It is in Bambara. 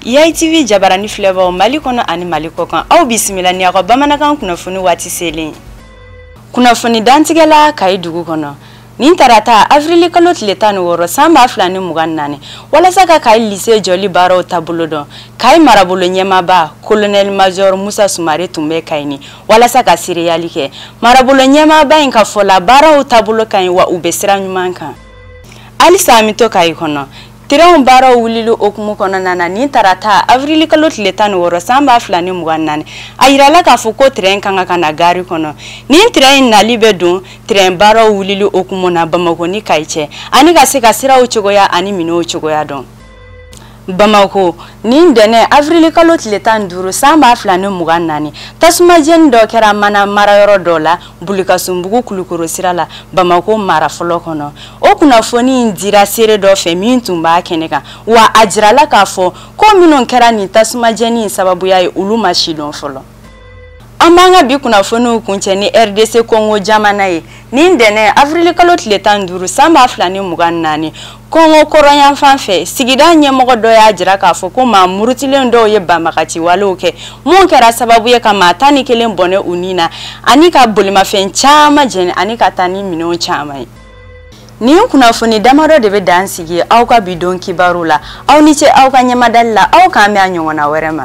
kayi tv jabarani filɛbaaw mali kɔnɔ ani mali kɔkan aw bisimila ni aw ka bamanankan kunnafoni waati selen kunnafoni dantigɛla kayi dugu kɔnɔ nin tarata afirili kalo tile tan ni wɔɔrɔ san ba fila ni mugan ni naani walasa ka kayi lise jɔli baaraw taabolo dɔn kayi marabolo ɲɛmaaba kolonɛli majɔr musa sumare tun bɛ kayinin walasa ka seereyali kɛ marabolo ɲɛmaaba in ka fɔ la baaraw taabolo ka ɲi wa u bɛ sira ɲuman kan halisa an bɛ to kayi kɔnɔ Tɛrɛn baaraw wulili hukumu kɔnɔna na nin tarata avril kalo tile tan ni wɔɔrɔ san ba fila ni mugan ni naani a yirala k'a fɔ ko tɛrɛn ka kan ka na gari kɔnɔ nin tɛrɛn in nali bɛ don tɛrɛn baaraw wulili hukumu la bamakɔ ni kayi cɛ ani ka se ka siraw cogoya ani minɛnw cogoya dɔn Bamako nin ntɛnɛn avril kalo tile tan ni duuru san ba fila ni mugan ni naani tasuma jeni dɔ kɛra mana marayɔrɔ dɔ la bulikasunbugu kulukoro sira la bamako mara fɔlɔ kɔnɔ o kunnafoni in dira seere dɔ fɛ min tun b'a kɛnɛ kan wa a jirala k'a fɔ ko minnu kɛra nin tasumajɛni in sababuya ye olu ma sidɔn fɔlɔ an b'an ka bi kunnafoniw kuncɛ ni rdc kongo jamana ye nin ntɛnɛn avrili kalo tile tan ni duuru san ba fila ni mugan ni naani Kɔngo kɔrɔnyanfan fɛ, sigida ɲɛmɔgɔ dɔ y'a jira k'a fɔ ko maa murutilen dɔw ye banbaganci walew kɛ, mun kɛra sababu ye ka maa tan ni kelen bɔnɛ u ni na, ani ka bolimafɛn caman jɛni ani ka taa ni minɛnw caman ye. Nin kunnafoni damadɔ de bɛ dan sigi aw ka bi don kibaru la. Aw ni ce aw ka ɲɛmadali la. Aw k'an bɛn a ɲɔgɔnna wɛrɛ ma.